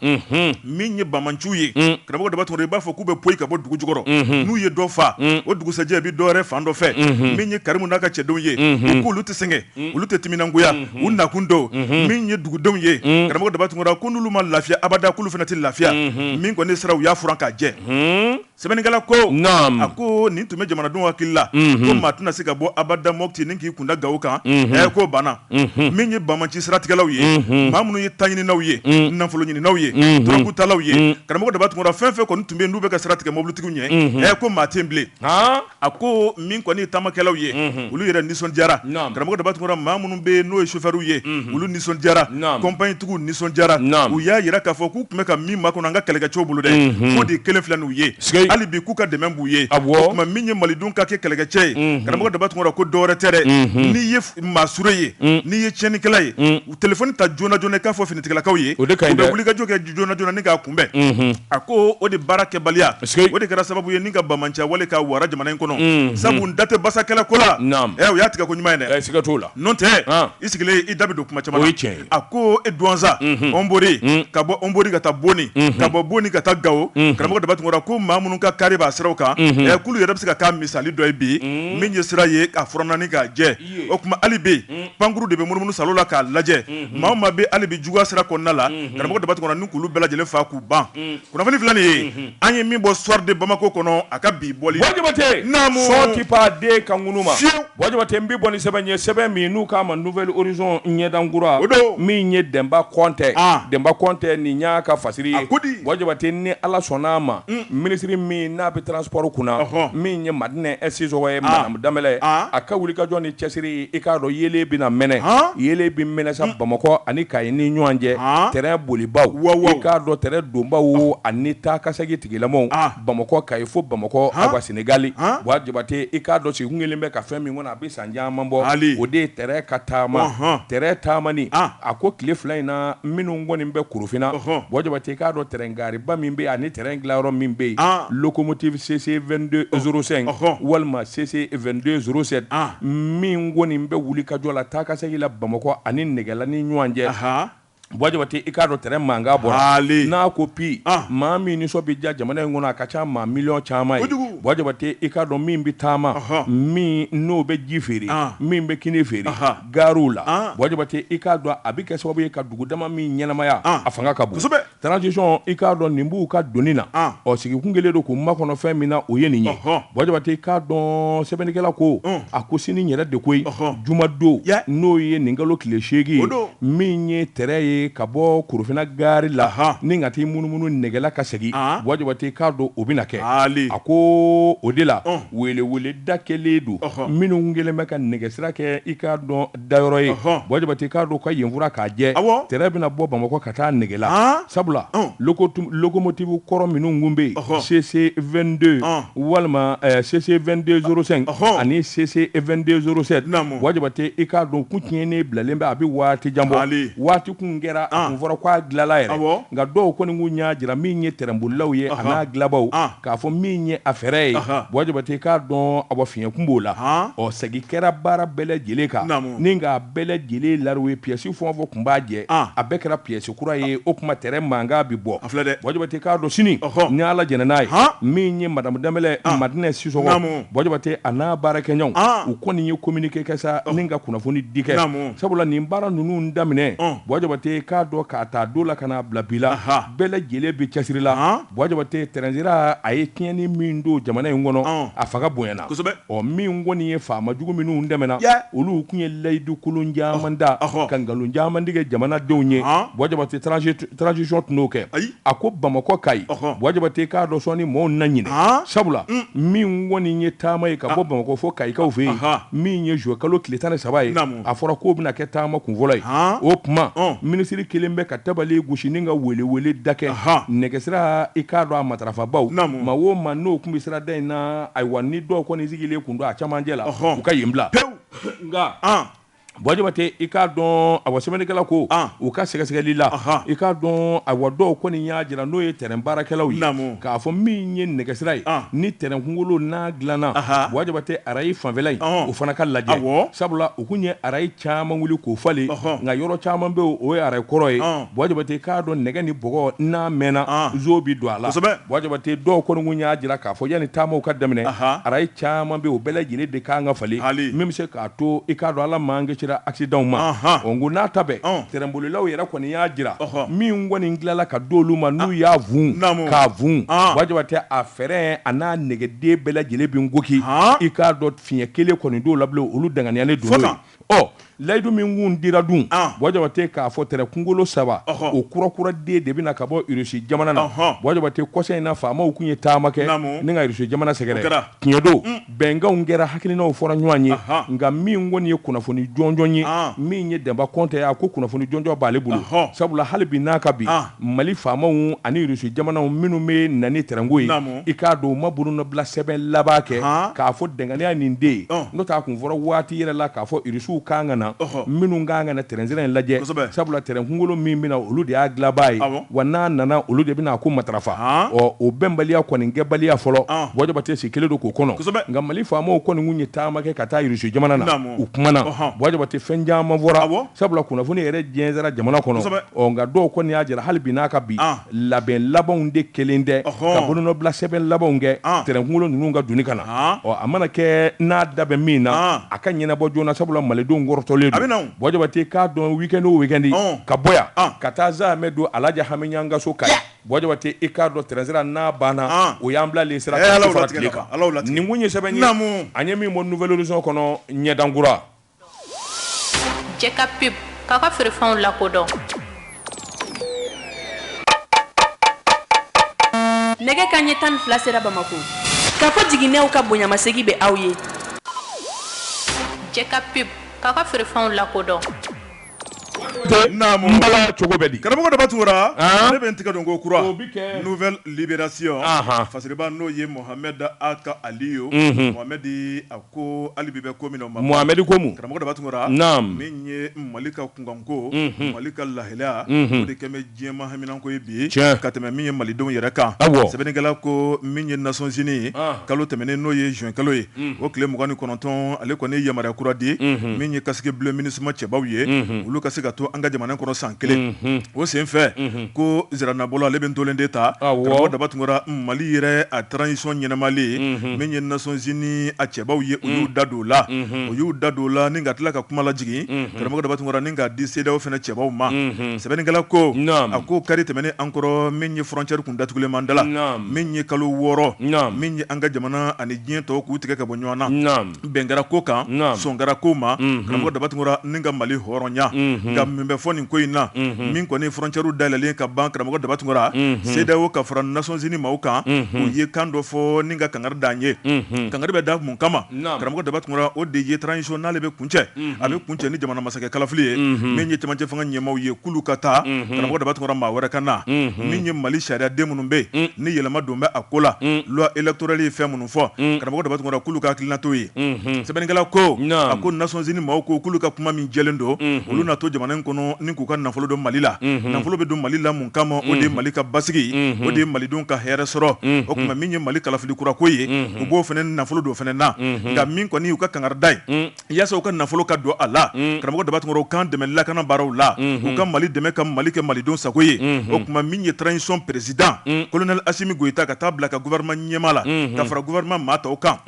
min ye banbaanciw ye karamɔgɔ daba tunkara i b'a fɔ k'u bɛ poyi ka bɔ dugu jukɔrɔ n'u ye dɔ faa o dugusɛjɛ bɛ dɔwɛrɛ fan dɔ fɛ min ye karimu n'a ka cɛdenw ye k'olu sɛgɛn mm. olu tɛ timinangoya mm-hmm. u nakun don mm-hmm. min ye dugudenw ye mm. karamɔgɔ daba tunkara ko n'olu ma lafiya abada k'olu fana tɛ lafiya mm-hmm. min kɔni sira u y'a furan k'a jɛ sɛbɛnnikɛla ko a ko nin tun bɛ jamanadenw hakili la ko maa tɛna se ka bɔ abada moti ni k'i kunda gawo kan ɛ k'o banna min ye banbaanci siratigɛlaw ye maa minnu ye taɲininaw ye nafolo ɲininaw ye dɔrɔgutalaw ye karamɔgɔ daba tunkara fɛn fɛn kɔni tun bɛ n'u bɛ ka sira tigɛ mobilitigiw ɲɛ ɛ ko maa tɛ bilen A ko min kɔni taamakɛlaw ye olu yɛrɛ nisɔndiyara karamɔgɔ daba tunkara maa minnu bɛ yen n'o ye sofɛriw ye olu nisɔndiyara kɔnpaɲitigiw nisɔndiyara u y'a yira k'a fɔ k'u tun bɛ ka min makɔnɔ an ka kɛlɛkɛcɛw bolo dɛ o de kɛlen filɛ nin ye hali bi k'u ka dɛmɛ b'u ye o tuma min ye maliden ka kɛ kɛlɛkɛcɛ ye karamɔgɔ daba tunkara ko dɔwɛrɛ tɛ dɛ n'i ye maasure ye n'i ye tiɲɛnikɛla ye u telefoni ta joona joona k'a fɔ finitigilakaw ye u bɛ wulikajɔ kɛ joona joona ni k'a kunbɛn a ko o de baara kɛbaliya o de kɛra sababu ye ni ka banbaanciya wale ka wara jamana in kɔnɔ sabu n da tɛ basakɛlɛ ko la u y'a tigɛ ko ɲuman ye dɛ siga t'o la n'o tɛ i sigilen i da bɛ don kuma caman na a ko e duwansan ɔnbori ka bɔ ɔnbori ka taa boni ka bɔ boni ka taa gawo karamɔgɔ daba tunkara ko maa minnu ka kari b'a siraw kan k'olu yɛrɛ bɛ se ka k'a misali dɔ ye bi min ye sira ye k'a furan ni k'a jɛ o tuma ali bi pankurun de bɛ munumunu salo la k'a lajɛ maa o maa bɛ ali bi juguya sira kɔnɔna la karamɔgɔ daba tunkara ni k'olu bɛɛ lajɛlen faa k'u ban kunnafoni filɛ nin ye an ye min bɔ soir de bamako kɔnɔ a ka bi bɔli buwa jabate n bɛ bɔ ni sɛbɛn ye sɛbɛn min n'u k'a ma nouvel horizon ɲɛdan kura o don min ye denba kɔnte denba kɔnte nin y'a ka fasiri ye a ko di buwa jabate ni ala sɔnn'a ma minisiri min n'a bɛ transport kunna min ye madinɛ sisɔgɔ ye Danbɛlɛ, an, a ka wulikajɔ ni cɛsiri, i k'a dɔn yeelen bɛna mɛnɛ, han, yeelen bɛ mɛnɛ sa Bamakɔ ani Kayi ni ɲɔgɔn cɛ, han, tɛrɛn bolibaw, wawaw, i k'a dɔn tɛrɛn donbaw ani taakasegin tigilamɔɔw, an, Bamakɔ, Kayi fo Bamakɔ, han, awa Senegali, han, Buwa Jabate, i k'a dɔn sigi kun kɛlen bɛ ka fɛn min kɔnɔ a bɛ san caman bɔ, haali, o de ye tɛrɛn ka taama, ɔnhɔn, tɛrɛn taamani, an, a ko tile fila in na minnu kɔni bɛ Korofina, ɔnhɔn, Buwa Jabate, i k'a dɔn tɛrɛn Gariba min bɛ yen ani tɛrɛn dilayɔrɔ min bɛ yen locomotive CC 2205 walima CC 2207 min kɔni bɛ wulikajɔ la taakasegin la bamakɔ ani nɛgɛla ni ɲɔgɔn cɛ buwa jabate i k'a dɔn tɛrɛn mankan bɔra n'a ko pi maa min nisɔn bɛ diya jamana in kɔnɔ a ka ca maa miliyɔn caman ye buwa jabate i k'a dɔn min bɛ taama min n'o bɛ ji feere min bɛ kini feere gariw la buwa jabate i k'a dɔn a bɛ kɛ sababu ye ka dugu dama min ɲɛnamaya a fanga ka bon Transition i k'a dɔn nin b'u ka doni na, an, ɔ sigi kun kɛlen don k'u makɔnɔ fɛn min na o ye nin ye, ɔhɔ, Buwa Jabate i k'a dɔn sɛbɛnnikɛla ko, un, a ko sinin yɛrɛ de koyi, ɔhɔ, jumadon, ya, n'o ye nin kalo tile seegin ye, o don, min ye tɛrɛn ye ka bɔ Korofina gari la, ahan, ni ka t'i munumunu Nɛgɛla ka segin, an, Buwa Jabate i k'a dɔn o bɛna kɛ, haali, a ko o de la, un, weeleweeleda kɛlen don, ɔhɔ, minnu kun kɛlen bɛ ka nɛgɛsira kɛ i k'a dɔn dayɔrɔ ye buwa jabate k'a dɔn ka yen furan k'a jɛ tɛrɛn bɛna bɔ bamakɔ ka taa nɛgɛla sabula locomotive kɔrɔ minnu kun bɛ yen CC 22 walima CC 2205 ani CC 2207 buwa jabate i k'a dɔn kun tiɲɛnen bilalen bɛ a bɛ waati jan bɔ waati kun kɛra a kun fɔra k'a dilala yɛrɛ nka dɔw kɔni kun y'a jira min ye tɛrɛn bolilaw ye a n'a dilabaw k'a fɔ min ye a fɛrɛn ye buwa jabate k'a dɔn a fiɲɛ kun b'o la ɔ segin kɛra baara bɛɛ lajɛlen kan ni k'a bɛɛ lajɛlen la ye piyɛsi fɛn o fɛn kun b'a jɛ a bɛɛ kɛra piyɛsi kura ye o kuma tɛrɛn mankan bɛ bɔ dɛ buwa jabate k'a dɔn sini ni ala jɛnna n'a ye min ye madamu danbɛlɛ madinɛ sisɔgɔ buwa jabate a n'a baarakɛɲɔgɔnw u kɔni ye kɔminike kɛ sa ni ka kunnafoni di kɛ sabula nin baara ninnu daminɛ buwa jabate k'a dɔn k'a ta don la ka n'a bila bi la bɛɛ lajɛlen bɛ cɛsiri la Buwa Jabate tɛrɛnsira a ye tiɲɛni min don jamana in kɔnɔ, ɔn, a fanga bonyana, kosɛbɛ, ɔ min kɔni ye faama jugu minnu tɛmɛna, ya, olu kun ye layidu kolon caman da, ɔhɔ, ka nkalon caman tigɛ jamana denw ye, ɔn, Buwa Jabate transition tɛ n'o kɛ, ayi, a ko Bamakɔ Kayi, ɔhɔ, Buwa Jabate k'a dɔn sɔɔni mɔɔw na ɲinɛ, ɔn, sabula, un, min kɔni ye taama ye ka bɔ Bamakɔ fo Kayikaw fɛ yen, anhan, min ye juin kalo tile tan ni saba ye, naamu. a fɔra k'o bɛna kɛ taama kun fɔlɔ ye o tuma minisiri kelen bɛ ka tabali gosi ni ka weleweleda kɛ nɛgɛsira i k'a dɔn a matarafabaw ma o ma n'o kun bɛ sira da in na ayiwa ni dɔw kɔni sigilen kun don a camancɛ la u ka yen bila pewu nka Buwa Jabate i k'a dɔn a wa sɛbɛnnikɛla ko u ka sɛgɛsɛgɛli la i k'a dɔn a wa dɔw kɔni y'a jira n'o ye tɛrɛn baarakɛlaw ye k'a fɔ min ye nɛgɛsira ye ni tɛrɛnkungolo n'a dilanna Buwa Jabate arayi fanfɛla in o fana ka lajɛ sabula u kun ye arayi caman wuli k'o falen nka yɔrɔ caman bɛ o ye arayi kɔrɔ ye Buwa Jabate k'a dɔn nɛgɛ ni bɔgɔ n'a mɛnna nzon bɛ don a la Buwa Jabate dɔw kɔni kun y'a jira k'a fɔ yanni taamaw ka daminɛ arayi caman bɛ o bɛɛ lajɛlen de kan ka falen min bɛ se k'a to i k'a dɔn Ala m'an kisira accidentw ma o ko n'a ta tɛrɛnbolilaw yɛrɛ kɔni y'a jira min kɔni dilanna ka d'olu ma n'u y'a fun k'a fun Buwa Jabate a fɛrɛn a n'a nɛgɛden bɛɛ lajɛlen bɛ nkoki i k'a dɔn fiɲɛ kelen kɔni t'o la bilen olu danganiyalen don n'o ye ɔ layidu min kun dira dun Buwa Jabate k'a fɔ tɛrɛn kunkolo saba o kura kuraden de bɛna ka bɔ Irisi jamana na Buwa Jabate kɔsa in na faamaw kun ye taama kɛ ni ka Irisi jamana sɛgɛrɛ tiɲɛ don Bɛnkanw kɛra, hakilinaw fɔra ɲɔgɔn ye, anhan, nka min kɔni ye kunnafoni jɔnjɔn ye, an, min ye Denba Kɔnte ye, a ko kunnafoni jɔnjɔn b'ale bolo, ɔhɔ, sabula hali bi n'a ka bi, an, Mali faamaw ani Russie jamanaw minnu bɛ na ni tɛrɛn ko ye, naamu, i k'a dɔn u ma bolonɔbilasɛbɛn laban kɛ, han, k'a fɔ danganiya nin de ye, ɔn, n'o tɛ a kun fɔra waati yɛrɛ la k'a fɔ Russiw ka kan ka na, ɔhɔ, minnu ka kan ka na tɛrɛn sira in lajɛ, kosɛbɛ, sabula tɛrɛn kunkolo min bɛ na olu de y'a dilanbaa ye, awɔ. wa n'a nana olu de bɛna a ko matarafa Haan. ɔ o bɛnbaliya kɔni kɛbaliya fɔlɔ Ɔn. Buwa Jabate sigilen don k'o kɔnɔ Kosɛbɛ. nka Mali faamaw kɔni kun ye taama kɛ ka taa Irisi jamana na Naamu. u kumana Ɔhɔn. Buwa Jabate fɛn caman fɔra Awɔ. sabula kunnafoni yɛrɛ jɛnsɛra jamana kɔnɔ Kosɛbɛ. ɔ nka dɔw kɔni y'a jira hali bi n'a ka bi Ɔn. labɛn labanw de kɛlen tɛ Ɔhɔn. ka bolonɔbila sɛbɛn labanw kɛ Ɔn. tɛrɛnkungolo ninnu ka doni ka na Ɔn. ɔ a mana kɛ n'a da bɛ min na Ɔn. a ka ɲɛnabɔ joona sabula malidenw kɔrɔtɔlen A bɛ na don o. Buwa Jabate k'a dɔn weekend o weekend ka bɔ yan ka taa zan bɛ don Alaji Hami Ɲang ka so ka Buwa Jabate i k'a dɔn tɛrɛnsira n'a banna o y'an bila sira la nin kun ye sɛbɛn ye an ye min bɔ Nouvel Horizon kɔnɔ ɲɛdankura cɛ ka pe pa ka feerefɛnw lakodɔn nɛgɛ kanɲɛ tan ni fila sera Bamakɔ Kafo Jiginɛw ka bonyamasegin bɛ aw ye cɛ ka pe K'a ka feerefɛnw lakodɔn. Naamu, Mbala cogo bɛ di? Karamɔgɔ Daba Tunkara, an, ne bɛ n tigɛ don ko kura, o bɛ kɛ, nouvelle libération, anhan, fasiriba n'o ye Mohamɛdi Ag Aliyu, unhun, Mohamɛdi a ko hali bi bɛ ko min na o ma ban, Mohamɛdi ko mun? Karamɔgɔ Daba Tunkara, naamu, min ye Mali ka kunkanko, unhun, Mali ka lahalaya, unhun, o de kɛn bɛ Diɲɛ maa haminanko ye bi ka tɛmɛ min ye malidenw yɛrɛ kan sɛbɛnnikɛla ko min ye Nations Unies kalo tɛmɛnen n'o ye juin kalo ye o tile mugan ni kɔnɔntɔn ale kɔni ye yamaruya kura di min ye casques bleus MINUSMA cɛbaw ye olu ka se ka to an ka jamana kɔnɔ san kelen o senfɛ ko ziranabɔlɔ ale bɛ tolen de ta karamɔgɔ Daba Tunkara mali yɛrɛ a transition ɲɛnamalen min ye Nations Unies a cɛbaw ye u y'u da don la u y'u da don la ni ka tila ka kuma lajigin karamɔgɔ Daba Tunkara ni k'a di CEDEAO fana cɛbaw ma Sɛbɛnnikɛla ko, naamu, a ko kari tɛmɛnen an kɔrɔ min ye frontière kun datugulen b'an da la, naamu, min ye kalo wɔɔrɔ, naamu, min ye an ka jamana ani diɲɛ tɔw k'u tigɛ ka bɔ ɲɔgɔn na, naamu, bɛn kɛra ko kan, naamu, sɔn kɛra ko ma, unhun, karamɔgɔ Daba Tunkara ni ka Mali hɔrɔnya, unhun, nka min bɛ fɔ nin ko in na, unhun, min kɔni frontières dayɛlɛlen ka ban karamɔgɔ Daba Tunkara, unhun, CEDEAO ka fara Nations Unies maaw kan, unhun, u ye kan dɔ fɔ ni ka kangari da an ye, unhun, kangari bɛ da mun kama, naamu, karamɔgɔ Daba Tunkara o de ye transition n'ale bɛ kun cɛ a bɛ kuncɛ ni jamana masakɛ kalafili ye min ye camancɛ fanga ɲɛmaaw ye k'olu ka taa karamɔgɔ Daba Tunkara maa wɛrɛ ka na min ye mali sariya den minnu bɛ yen ni yɛlɛma don bɛ a ko la loi électorale ye fɛn minnu fɔ karamɔgɔ Daba Tunkara k'olu ka hakilina t'o ye sɛbɛnnikɛla ko a ko Nations Unies maaw ko k'olu ka kuma min jɛlen don olu na to jamana in kɔnɔ ni k'u ka nafolo don mali la nafolo bɛ don mali la kama o de ye mali ka basigi o de ye malidenw ka hɛrɛ sɔrɔ o tuma min ye mali kalafili kura ko ye u b'o fana nafolo don fana na nka min kɔni y'u ka kangari da ye yaasa u ka nafolo ka don a la karamɔgɔ Daba Tunkara k'an dɛmɛ lakana baaraw la u ka mali dɛmɛ ka mali kɛ malidenw sago ye o tuma min ye transition président colonel Assimi Goïta ka taa bila ka gouvernement ɲɛmaa la ka fara gouvernement maa tɔw kan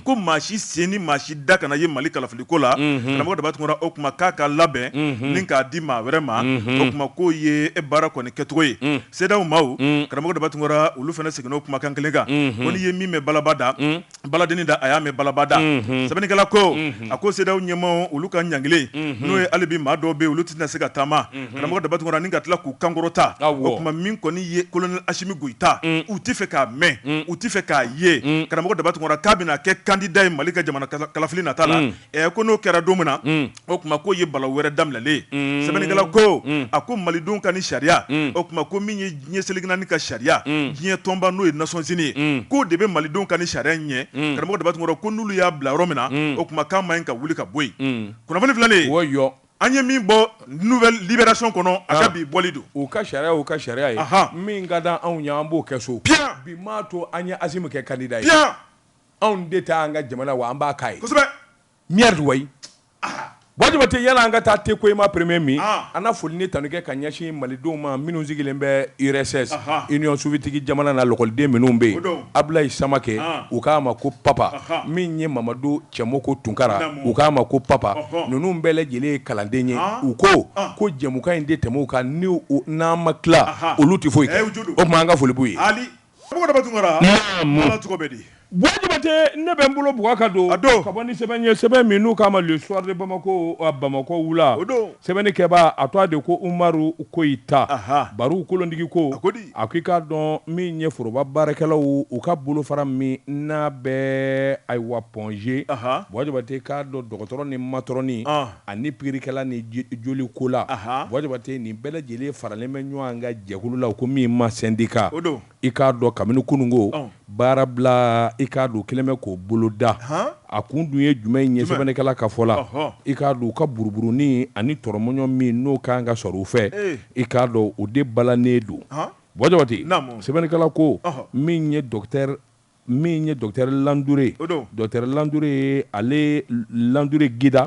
ko maa si sen ni maa si da kana ye mali kalafili ko la karamɔgɔ Daba Tunkara o kuma k'a ka labɛn ni k'a di maa wɛrɛ ma o tuma k'o ye e baara kɔni kɛcogo ye CEDEAO maaw karamɔgɔ Daba Tunkara olu fana seginna o kumakan kelen kan ko n'i ye min mɛn balaba da baladennin da a y'a mɛn balaba da sɛbɛnnikɛla ko a ko CEDEAO ɲɛmaaw olu ka ɲangilen n'o ye hali bi maa dɔw bɛ olu tɛna se ka taama karamɔgɔ Daba Tunkara ni ka tila k'u kankɔrɔta o tuma min kɔni ye colonel Assimi Goïta u tɛ fɛ k'a mɛn u tɛ fɛ k'a ye karamɔgɔ Daba Tunkara k'a bɛna kɛ candidat ye mali ka jamana kalafili nata la ɛ ko n'o kɛra don min na o tuma k'o ye balawu wɛrɛ daminɛlen sɛbɛnnikɛla ko a ko malidenw ka ni sariya o tuma ko min ye diɲɛ seleke naani ka sariya diɲɛ tɔnba n'o ye Nations Unies ye k'o de bɛ malidenw ka ni sariya ɲɛ karamɔgɔ Daba Tunkara ko n'olu y'a bila yɔrɔ min na o tuma k'a man ɲi ka wuli ka bɔ yen kunnafoni filanan An ye min bɔ nouvelle libération kɔnɔ a ka bi bɔli don. U ka sariya y'u ka sariya ye min ka d'an anw ye an b'o kɛ so. Piyan! Bi m'a to an ye Asimi kɛ candidat ye. Piyan! Anw de ta an ka jamana wa an b'a k'a ye. Kosɛbɛ! Merde wayi! Buwa Jabate yala an ka taa Tekoima premier min? An na foli ni tanu kɛ ka ɲɛsin Malidenw ma minnu sigilen bɛ URSS, Union Soviétique jamana na lɔkɔliden minnu bɛ yen, Abdulayi Samake, u k'a ma ko Papa min ye Mamadu Cɛmɔkɔ Tunkara u k'a ma ko Papa ninnu bɛɛ lajɛlen ye kalanden ye u ko ko jɛmukan in de tɛmɛ u kan n'an ma tila olu tɛ foyi o tuma an ka foli b'u ye Buwa Jabate ne bɛ n bolo bugɔ ka don a don ka bɔ ni sɛbɛn ye sɛbɛn min n'u k'a ma le soir de bamakɔ bamakɔ wula o don Sɛbɛnnikɛbaa a tɔgɔ de ko Umaru Koyita, anhan, Baru kolotigi ko, a ko di? A ko i k'a dɔn min ye foroba baarakɛlaw u ka bolofara min n'a bɛ ayiwa Point G, anhan, Buwa Jabate k'a dɔn dɔgɔtɔrɔ ni matɔrɔni, an, ani pikirikɛla ni jolikola, anhan, Buwa Jabate nin bɛɛ lajɛlen faralen bɛ ɲɔgɔn kan jɛkulu la u ko min ma sɛndika, o don. I k'a dɔn kabini kununko baarabila i k'a dɔn kɛlen bɛ k'o boloda a kun dun ye jumɛn ye sɛbɛnnikɛla ka fɔ la i k'a dɔn u ka buruburunin ani tɔrɔmɔɲɔ min n'o ka kan ka sɔrɔ u fɛ i k'a dɔn o de balannen don Buwa Jabate sɛbɛnnikɛla ko min ye min ye docteur Landure docteur Landure ale Landure Gida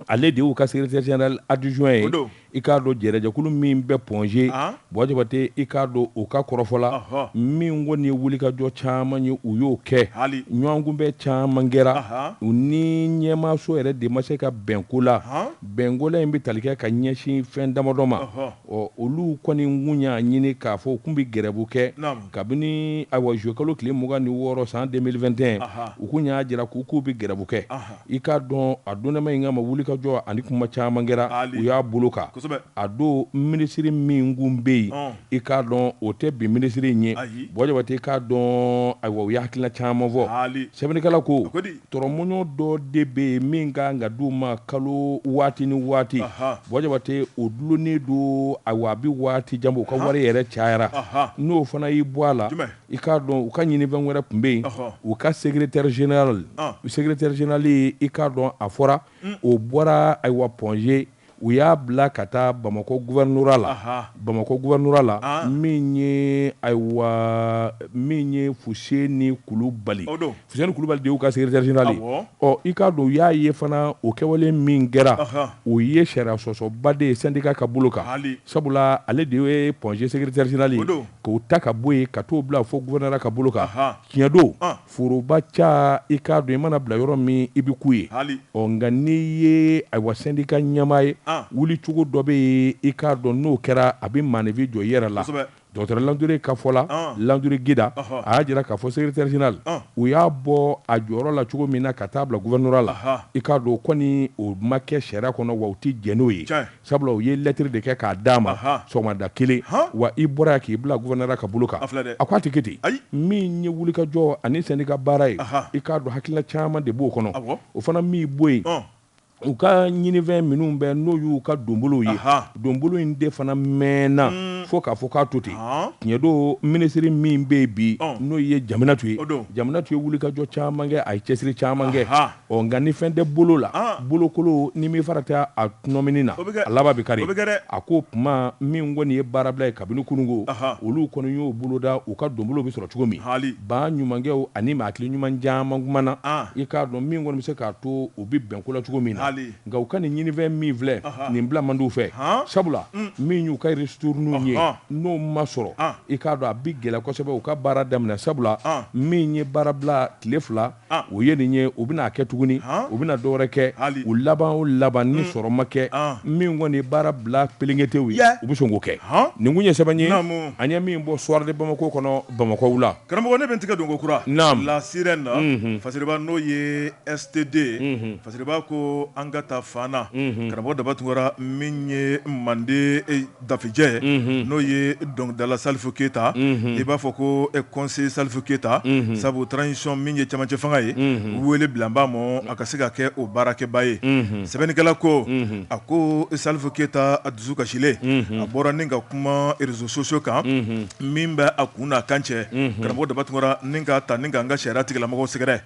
ale de y'u ka secrétaire général adjoint ye, o don, i k'a dɔn jɛrɛjɛkulu min bɛ Point G, an, Buwa Jabate i k'a dɔn u ka kɔrɔfɔ la, ɔhɔ, min kɔni ye wulikajɔ caman ye u y'o kɛ, haali, ɲɔgɔnkunbɛn caman kɛra, ahan, u ni ɲɛmaaso yɛrɛ de ma se ka bɛn ko la, han, bɛnkola in bɛ tali kɛ ka ɲɛsin fɛn damadɔ ma, ɔhɔ, ɔ olu kɔni kun y'a ɲini k'a fɔ u kun bɛ grève kɛ, naamu, kabini ayiwa juillet kalo tile mugan ni wɔɔrɔ san 2021, ahan, u kun y'a jira k'u k'u bɛ grève kɛ, anhan. I k'a dɔn a donnama in kama wulikajɔ ani kuma caman kɛra u y'a bolo kan a don minisiriri min kun bɛ yen i k'a dɔn o tɛ bi minisiriri in ye Buwa Jabate i k'a dɔn ayiwa u ye hakilina caman fɔ sɛbɛnnikɛla ko tɔrɔmɔɲɔ dɔ de bɛ yen min ka kan ka di u ma kalo waati ni waati Buwa Jabate o dulonnen don ayiwa a bɛ waati jan bɔ u ka wari yɛrɛ cayara n'o fana y'i bɔ a la I k'a dɔn u ka ɲinifɛn wɛrɛ tun bɛ yen u ka secrétaire général u secrétaire général i k'a dɔn a fɔra o bɔra ayiwa Point G u y'a bila ka taa bamakɔ gouvernorat la bamakɔ gouvernorat la min ye ayiwa min ye Fuseni Kulibali Fuseni kulubali de y'u ka secretaire general ye, awɔ, ɔ i k'a dɔn u y'a ye fana o kɛwale min kɛra, ɔhɔ, o ye sariya sɔsɔba de ye syndicat ka bolo kan, haali, sabula ale de ye Point G secretaire general ye, o don, k'o ta ka bɔ yen ka t'o bila fo gouvernorat ka bolo kan, ahan, tiɲɛ don, ɔn, foroba ca i k'a dɔn i mana bila yɔrɔ min i bɛ k'u ye, haali, ɔ nka n'i ye ayiwa syndicat ɲɛmaa ye, an, wulicogo dɔ bɛ yen i k'a dɔn n'o kɛra a bɛ maaninfin jɔ i yɛrɛ la, kosɛbɛ. Docteur Landure ka fɔ la, Landure Gida, a y'a jira k'a fɔ secretaire general u y'a bɔ a jɔyɔrɔ la cogo min na ka taa bila gouvernorat la, i k'a dɔn o kɔni o ma kɛ sariya kɔnɔ wa u tɛ jɛn n'o ye, sabula u ye lettre de kɛ k'a d'a ma sɔgɔmada kelen, wa i bɔra yan k'i bila gouvernorat ka bolo kan, a ko a tɛ kɛ ten, min ye wulikajɔ ani syndicat baara ye, i k'a dɔn hakilina caman de b'o kɔnɔ, o fana m'i bɔ yen. u ka ɲinifɛn minnu bɛ n'o y'u ka donbolow ye donbolo in de fana mɛnna hmm. fo k'a fɔ k'a to ten tiɲɛ don minisiri min bɛ yen bi n'o ye jaminatu ye jaminatu ye wulikajɔ caman kɛ a ye cɛsiri caman kɛ ɔ nka ni fɛn tɛ bolo la bolokolo ni min fara tɛ a nɔmini na a laban bɛ kari a ko kuma min kɔni ye baarabila ye kabini kunun ko olu kɔni y'o boloda u ka donbolo bɛ sɔrɔ cogo min ba ɲumankɛw ani maa hakili ɲuman caman kumana i k'a dɔn min kɔni bɛ se k'a to u bɛ bɛn ko la cogo min na nka u ka nin ɲinifɛn min filɛ nin bila man d'u fɛ sabula min y'u ka ristournew ye n'o ma sɔrɔ i k'a dɔn a bɛ gɛlɛya kosɛbɛ u ka baara daminɛ sabula min ye baara bila tile fila o ye nin ye u bɛna a kɛ tuguni u bɛna dɔwɛrɛ kɛ u laban o laban ni sɔrɔ ma kɛ min kɔni ye baara bila pelenketew ye u bɛ sɔn k'o kɛ nin tun ye sɛbɛn ye an ye min bɔ soir de bamako kɔnɔ bamakɔ wula Karamɔgɔ ne bɛ n tigɛ don kokura la sirène na fasiriba n'o ye STD fasiriba ko an ka taa fana karamɔgɔ daba tunkara min ye mande dafejɛ ye n'o ye dɔnkilidala salifu keyita i b'a fɔ ko conseiller salifu keyita sabu transition min ye camancɛ fanga ye weele bila a ma a ka se ka kɛ o baarakɛba ye sɛbɛnnikɛla ko a ko salifu keyita a dusu kasilen a bɔra ni ka kuma réseaux sociaux kan min bɛ a kun n'a kan cɛ karamɔgɔ daba tunkara ni ka taa ni ka an ka sariya tigilamɔgɔw sɛgɛrɛ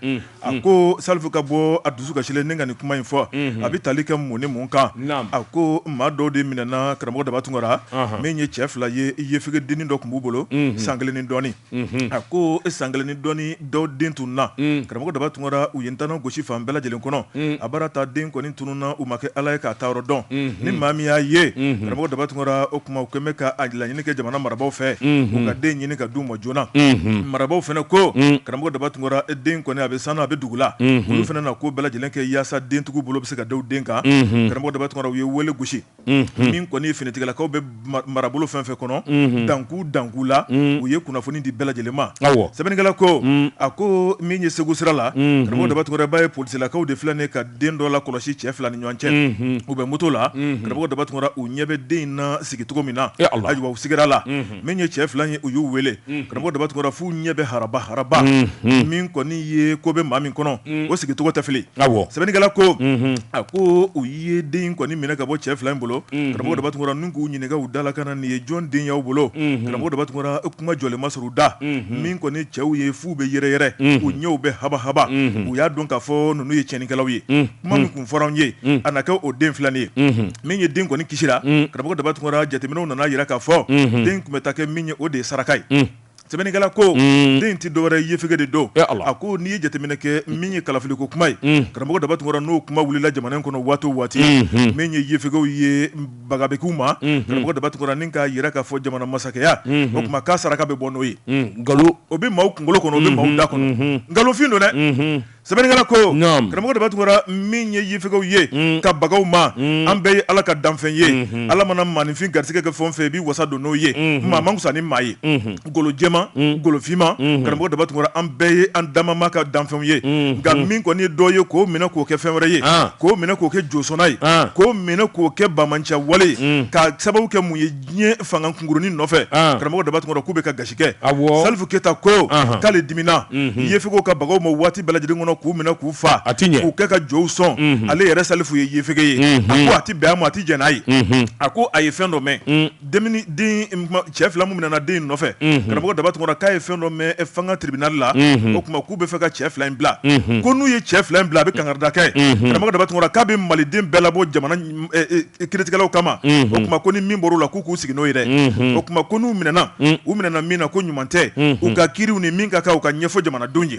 a ko salifu ka bɔ a dusu kasilen ni ka nin kuma in fɔ a bɛ tali kɛ mun ni mun kan a ko maa dɔw de minɛna karamɔgɔ daba tunkara min ye cɛ fila ye yefege dennin dɔ tun b'u bolo san kelen ni dɔɔnin a ko san kelen ni dɔɔnin dɔw den tununna karamɔgɔ daba tunkara u ye ntanan gosi fan bɛɛ lajɛlen kɔnɔ a bara taa den kɔni tununna u ma kɛ ala ye k'a taayɔrɔ dɔn ni maa min y'a ye karamɔgɔ daba tunkara o tuma u kɛlen bɛ k'a laɲini kɛ jamana marabagaw fɛ u ka den ɲini ka d'u ma joona marabagaw fana ko karamɔgɔ daba tunkara den kɔni a bɛ san na a bɛ dugu la olu fana na ko bɛɛ lajɛlen kɛ yaasa dentigiw bolo bɛ se ka da u den kan karamɔgɔ daba tunkara u ye weele gosi min kɔni finitigilakaw bɛ marabolo fɛn fɛn kɔnɔ dankun dankun la u ye kunnafoni di bɛɛ lajɛlen ma sɛbɛnnikɛla ko a ko min ye segu sira la karamɔgɔ daba tunkara b'a ye polisilakaw de filɛ nin ka den dɔ lakɔlɔsi cɛ fila ni ɲɔgɔn cɛ u bɛ moto la karamɔgɔ daba tunkara u ɲɛ bɛ den in na sigicogo min na ayiwa u sigira la min ye cɛ fila ye u y'u wele karamɔgɔ daba tunkara f'u ɲɛ bɛ haraba haraba min kɔni ye ko bɛ maa min kɔnɔ o sigicogo tɛ fili sɛbɛnnikɛla ko a ko u ye den kɔni minɛ ka bɔ cɛ fila in bolo karamɔgɔ daba tunkara ni k'u ɲininka u da la ka na nin ye jɔn den y'aw bolo karamɔgɔ daba tunkara kuma jɔlen ma sɔrɔ u da min kɔni cɛw ye f'u bɛ yɛrɛyɛrɛ u ɲɛw bɛ haba haba u y'a dɔn k'a fɔ ninnu ye cɛnnikɛlaw ye fɔr'an ye a na kɛ o de filɛ nin ye min ye den kɔni kisira karamɔgɔ daba tunkara jateminɛw nan'a yira k'a fɔ den tun bɛ taa kɛ min ye o de ye saraka ye sɛbɛnnikɛla ko den tɛ dɔwɛrɛ yefege de don a ko n'i ye jateminɛ kɛ min ye kalafiliko kuma ye karamɔgɔ daba tunkara n'o kuma wulila jamana in kɔnɔ waati o waati min ye yefegew ye baga bɛ k'u ma karamɔgɔ daba tunkara ni k'a yira k'a fɔ jamana masakɛya o tuma k'a saraka bɛ bɔ n'o ye nkalon o bɛ maaw kunkolo kɔnɔ o bɛ maaw da kɔnɔ nkalonfin don dɛ sɛbɛnnikɛla ko Naam. karamɔgɔ daba tunkara min ye yefegew ye Mm. ka bag'u ma Mm. an bɛɛ ye ala ka danfɛn ye Mhm. ala mana maaninfin garisɛgɛ kɛ fɛn o fɛn i b'i wasa don n'o ye Mhm. maa man fisa ni maa ye Mhm. golo jɛma Mm. golo finma Mhm. karamɔgɔ daba tunkara an bɛɛ ye an damama ka danfɛnw ye Mhm. nka min kɔni ye dɔ ye k'o minɛ k'o kɛ fɛn wɛrɛ ye Ah. k'o minɛ k'o kɛ josɔnna ye Ah. k'o minɛ k'o kɛ bamancɛ wale ye Mm. ka sababu kɛ mun ye diɲɛ fanga kunkurunin nɔfɛ karamɔgɔ daba tunkara k'u bɛ ka gasi kɛ salifu keyita ko k'ale dimina yefegew ka bag'u ma waati bɛɛ lajɛlen kɔnɔ k'u minɛ k'u faa a tɛ ɲɛ k'u kɛ ka jow sɔn ale yɛrɛ salifu ye yefege ye a tɛ bɛn a ma a tɛ jɛn n'a ye a ko a ye fɛn dɔ mɛn cɛ fila min minɛna den in nɔfɛ karamɔgɔ daba tunkara k'a ye fɛn dɔ mɛn fana tribunal la o tuma k'u bɛ fɛ ka cɛ fila in bila ko n'u ye cɛ fila in bila a bɛ kangarida kɛ karamɔgɔ daba tunkara k'a bɛ maliden bɛɛ labɔ jamana kiritigɛlaw kama o tuma ko ni min bɔr'u la k'u k'u sigi n'o yɛrɛ o tuma ko n'u minɛna u minɛna min na ko ɲuman tɛ u ka kiriw ni min ka kan u k'a ɲɛfɔ jamanadenw ye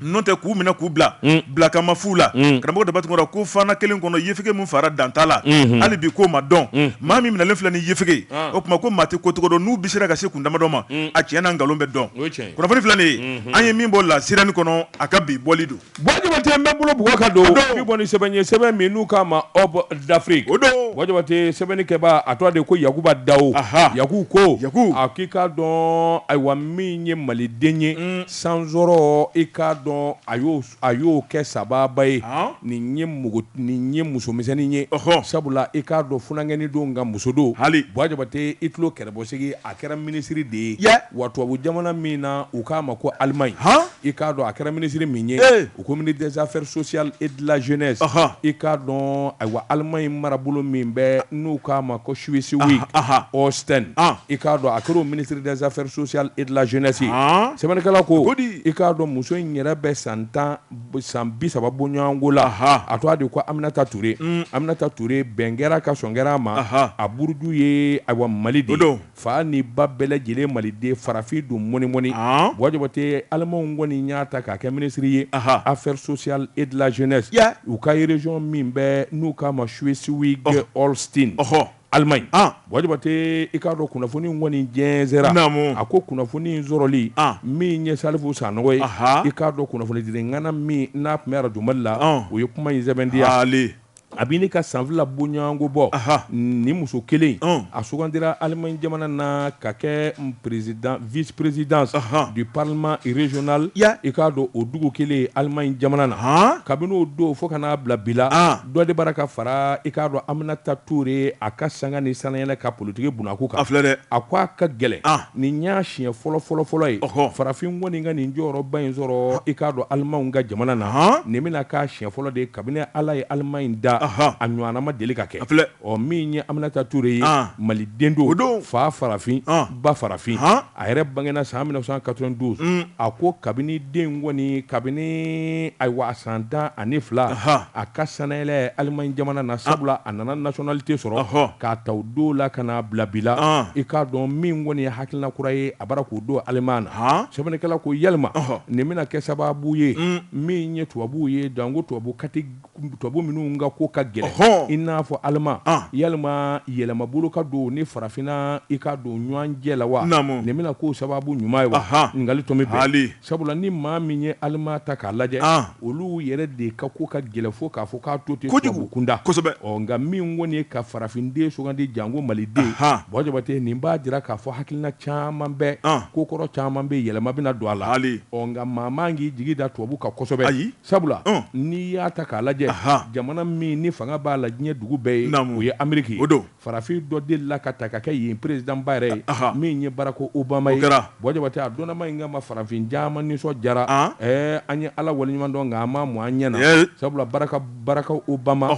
n'o tɛ k'u minɛ k'u bila bila kama fu la karamɔgɔ daba tunkara ko fana kelen kɔnɔ yefege min faara dan t'a la hali bi k'o ma dɔn maa min minɛlen filɛ ni yefege o tuma ko maa tɛ ko cogo dɔn n'u bɛ sera ka se kun damadɔ ma a cɛn n'a nkalon bɛ dɔn kunnafoni filɛ nin ye an ye min bɔ La Sirène kɔnɔ a ka bi bɔli don Buwa Jabate n bɛ bolo bugɔ ka don bi bɔ ni sɛbɛn ye sɛbɛn min n'u k'a ma Hope d'Afrique o don buwa jabate sɛbɛnnikɛba a tɔgɔ de ko yakuba dawo yaku ko a k'i k'a dɔn ayiwa min ye maliden ye san sɔrɔ i k'a dɔn a y'o kɛ sababa ye nin nin ye musomisɛnnin ye sabula i k'a dɔn funankɛnin don nka muso don hali buwa jabate i tulo kɛrɛbɔsigi a kɛra minisiri de ye wa tubabu jamana min na u k'a ma ko alimaɲi I k'a dɔn a kɛra minisiri min ye u ko ministre des affaires sociales et de la jeunesse i k'a dɔn ayiwa Allemagne marabolo min bɛ n'u k'a ma ko Schleswig Holstein i k'a dɔn a kɛra ministre des affaires sociales et de la jeunesse ye sɛbɛnnikɛla ko i k'a dɔn muso in yɛrɛ bɛ san tan san bi saba boɲɔgɔnko la a tɔgɔ de ko Aminata Ture Aminata Ture bɛn kɛra ka sɔn kɛra a ma a buruju ye ayiwa Mali de Fa ni ba bɛɛ lajɛlen maliden farafin don mɔnimɔni Buwa Jabate Allemagne kɔni y'a ta k'a kɛ minisiri ye affaires sociales et de la jeunesse u ka région min bɛ n'u k'a ma Schleswig Holstein Allemagne Buwa Jabate i k'a dɔn kunnafoni kɔni jɛnsɛra naamu a ko kunnafoni in sɔrɔli min ye Salifu Sanɔgɔ ye i k'a dɔn kunnafonidila ŋana min n'a tun bɛ arajo Mali la o ye kuma in sɛbɛntiya a bɛ ɲini ka san fila boɲɔgɔnko bɔ ni muso kelen a sugandira Allemagne jamana na ka kɛ vice présidente du parlement régional i k'a dɔn o dugu kelen Allemagne jamana na kabini o don fo ka n'a bila bi la dɔ de bara ka fara i k'a dɔn Aminata Ture a ka sanga ni sanayɛlɛ ka politiki bunako kan a filɛ dɛ a ko a ka gɛlɛn nin y'a siɲɛ fɔlɔ fɔlɔ fɔlɔ ye farafin kɔni ka nin jɔyɔrɔba in sɔrɔ i k'a dɔn alimaw ka jamana na nin bɛna k'a siɲɛ fɔlɔ de ye kabini ala ye Allemagne da a ɲɔgɔnna ma deli ka kɛ ɔ min ye Aminata Ture ye maliden don fa farafin ba farafin a yɛrɛ bangena san mille neuf cent quatre vingt douze a ko kabini den kɔni kabini ayiwa a san tan ani fila a ka sanayɛlɛ Allemagne jamana na sabula a nana nationalité sɔrɔ k'a ta o don la ka n'a bila bi la i k'a dɔn min kɔni ye hakilina kura ye a bara k'o don Allemagne na sɛbɛnnikɛla ko yalima nin bɛna kɛ sababu ye mm. min ye tubabu ye janko tubabu tubabu minnu ka ko ka gɛlɛn i n'a fɔ Allemagne yalima yɛlɛmabolo ka don ni farafinna i ka don ɲɔgɔnjɛ la wa nin bɛna k'o sababu ɲuman ye wa ɲininkali tun bɛ Sabula ni maa min ye Allemagne ta k'a lajɛ olu yɛrɛ de ka ko ka gɛlɛn fo k'a fɔ k'a to ten tubabu kunda nka min kɔni ye ka farafinden sugandi janko maliden Buwa Jabate nin b'a jira k'a fɔ hakilina caman bɛ ko kɔrɔ caman bɛ yɛlɛma bɛna don a la nka maa man k'i jigi da tubabu kan kosɛbɛ ayi sabula n'i y'a ta k'a lajɛ jamana min ni fanga b'a la diɲɛ dugu bɛɛ ye o ye Ameriki ye Farafin dɔ delila ka taa ka kɛ yen président ba yɛrɛ ye min ye Barack Obama ye Buwa Jabate a dɔnnama in kama farafin caman nisɔndiyara an ye ala waleɲuman dɔn nka an ma mɔn an ɲɛna sabula Barack Barack Obama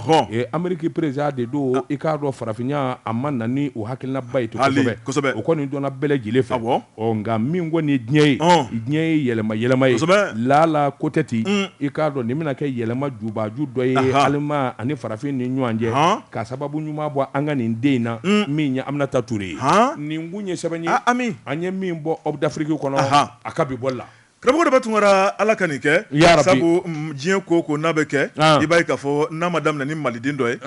Ameriki président de don i k'a dɔn farafinya a ma na ni o hakilinaba ye ten kosɛbɛ o kɔni dɔnna bɛɛ lajɛlen fɛ bɔ Ɔ nka min kɔni diɲɛ ye diɲɛ ye yɛlɛma yɛlɛma ye lala ko tɛ ten i k'a dɔn nin bɛna kɛ yɛlɛma jubaju dɔ ye Allemagne ani farafin ni ɲɔgɔn cɛ ka sababu ɲuman bɔ an ka nin den in na min ye Aminata Ture ye nin kun ye sɛbɛn ye ami an ye min bɔ Aube d'Afrique kɔnɔ a ka bi bɔli la karamɔgɔ Denba Tunkara ala ka nin kɛ sabu diɲɛ ko ko n'a bɛ kɛ i b'a ye k'a fɔ n'a ma daminɛ ni maliden dɔ ye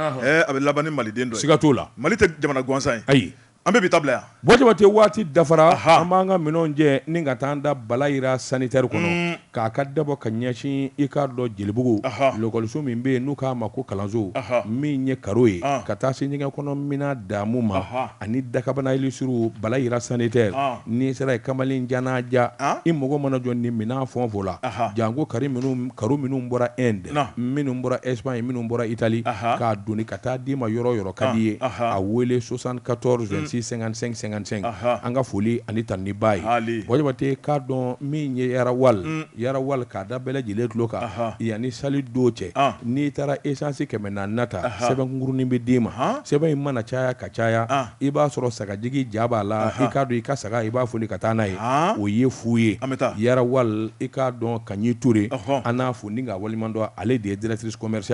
a bɛ laban ni maliden dɔ siga t'o la mali tɛ jamana gansan ye ayi An bɛ bi ta bila yan. Bɔ Jabate waati dafara. Ahan! An b'an ka minɛnw cɛ ni ka taa an da Bala Yira sanitaire kɔnɔ. Uun! K'a ka dabɔ ka ɲɛsin i k'a dɔn Jelibugu. Ahan! Lɔkɔliso min bɛ yen n'u k'a ma ko kalanso. Ahan! Min ye karo ye. An! Ka taa se ɲɛgɛn kɔnɔ minan daamu ma. Ahan! Ani dakabana lustrew Bala Yira sanitaire. An! N'i sera yen kamalen jan n'a ja. An! I mago mana jɔ nin minɛn fɛn o fɛn la. Ahan! Janko kari minnu, karo minnu bɔra Inde. Naamu! Minnu bɔra Espagne, minnu bɔra Italie. Ahan! K'a doni ka taa d'i ma yɔrɔ o yɔrɔ. ka d'i ye a wele soixante-quatorze vingt-six cinquante-cinq cinquante-cinq an ka foli ani tanuni b'a ye Bɔ Jabate k'a dɔn min ye Yara Oil Yara Oil k'a da bɛɛ lajɛlen tulo kan yanni sali don cɛ n'i taara esansi kɛmɛ naani ta sɛbɛnkunkurunnin bɛ d'i ma sɛbɛn in mana caya ka caya i b'a sɔrɔ sagajigi ja b'a la i k'a dɔn i ka saga i b'a foni ka taa n'a ye o ye fu ye Yara Oil i k'a dɔn Kaɲi Ture an n'a fo ni k'a waliɲuman dɔn ale de ye directrice commeri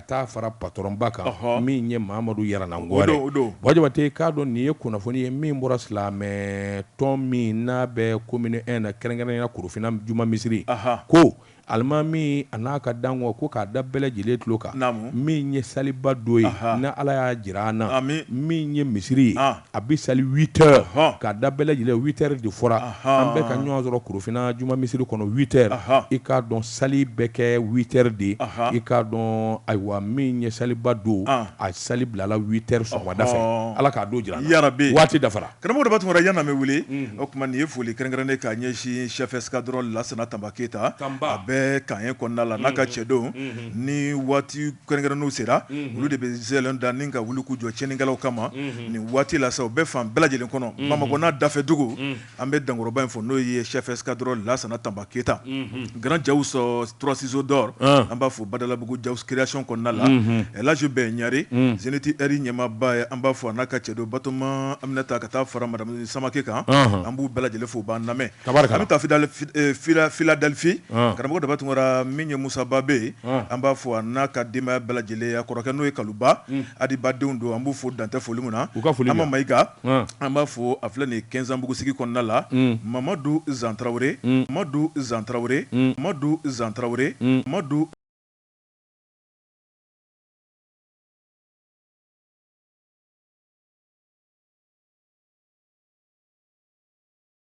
taa fara patɔrɔnba kan min ye mamadu Yaranangɔrɛ Bɔ Jabate k'a dɔn nin ye kunnafoni ye min bɔra silamɛ tɔn min n'a bɛ commune un na kɛrɛnkɛrɛnya korofinna juma misiri ko alimami a n'a ka dankanw ko k'a da bɛɛ lajɛlen tulo kan min ye saliba don ye n'ala y'a jira an na min ye misiri ye a bɛ sali witɛri k'a da bɛɛ lajɛlen witɛri de fɔra an bɛɛ ka ɲɔgɔn sɔrɔ korofinna juma misiri kɔnɔ witɛri i k'a dɔn sali bɛ kɛ witɛri de i k'a dɔn ayiwa min ye saliba don a sali bilala witɛri sɔgɔmada fɛ ala k'a don jira an na waati dafara karamɔgɔ de tun yan bɛ wele o tuma nin ye foli kɛrɛnkɛrɛnnen k'a ɲɛsin chef escadron lasana tanba keyita a bɛ Camp un kɔnɔna la n'a ka cɛdenw nin waati Kɛrɛnkɛrɛnnenw sera olu de bɛ zɛlɛ da ni ka wuli k'u jɔ cɛnnikɛlaw kama nin waati la sa u bɛ fan bɛɛ lajɛlen kɔnɔ bamakɔ n'a dafɛdugu an bɛ dankɔrɔba in fo n'o ye chef escadron lasana tanba keyita Grand Jawso trois ciseaux d'or an b'a fo badalabugu Ja création kɔnɔna la Elhadji Bɛn ɲare Zenith Air ɲɛmaaba ye an b'a fo a n'a ka cɛdenw batoma Aminata ka taa fara madamu samakɛ kan an b'u bɛɛ lajɛlen fo u b'an lamɛn Tabarikala. An bɛ taa fidali- fi- eh, fila- Philadelphie. Ɔn. Karamɔgɔ Daba Tunkara min ye Musa Ba bɛ yen, Ɔn. an b'a fo a n'a ka denbaya bɛɛ lajɛlen, a kɔrɔkɛ n'o ye Kalu Ba, Adi Ba denw don, an b'u fo dan tɛ foli min na. U ka foli Ama bɛ yan. Mayiga, Ɔn. an b'a fo a filɛ nin ye Kɛnzanbugu sigi kɔnɔna la, Mamadu Zan Tarawele, Mamadu Zan Tarawele, Mamadu Zan Tarawele, Mamadu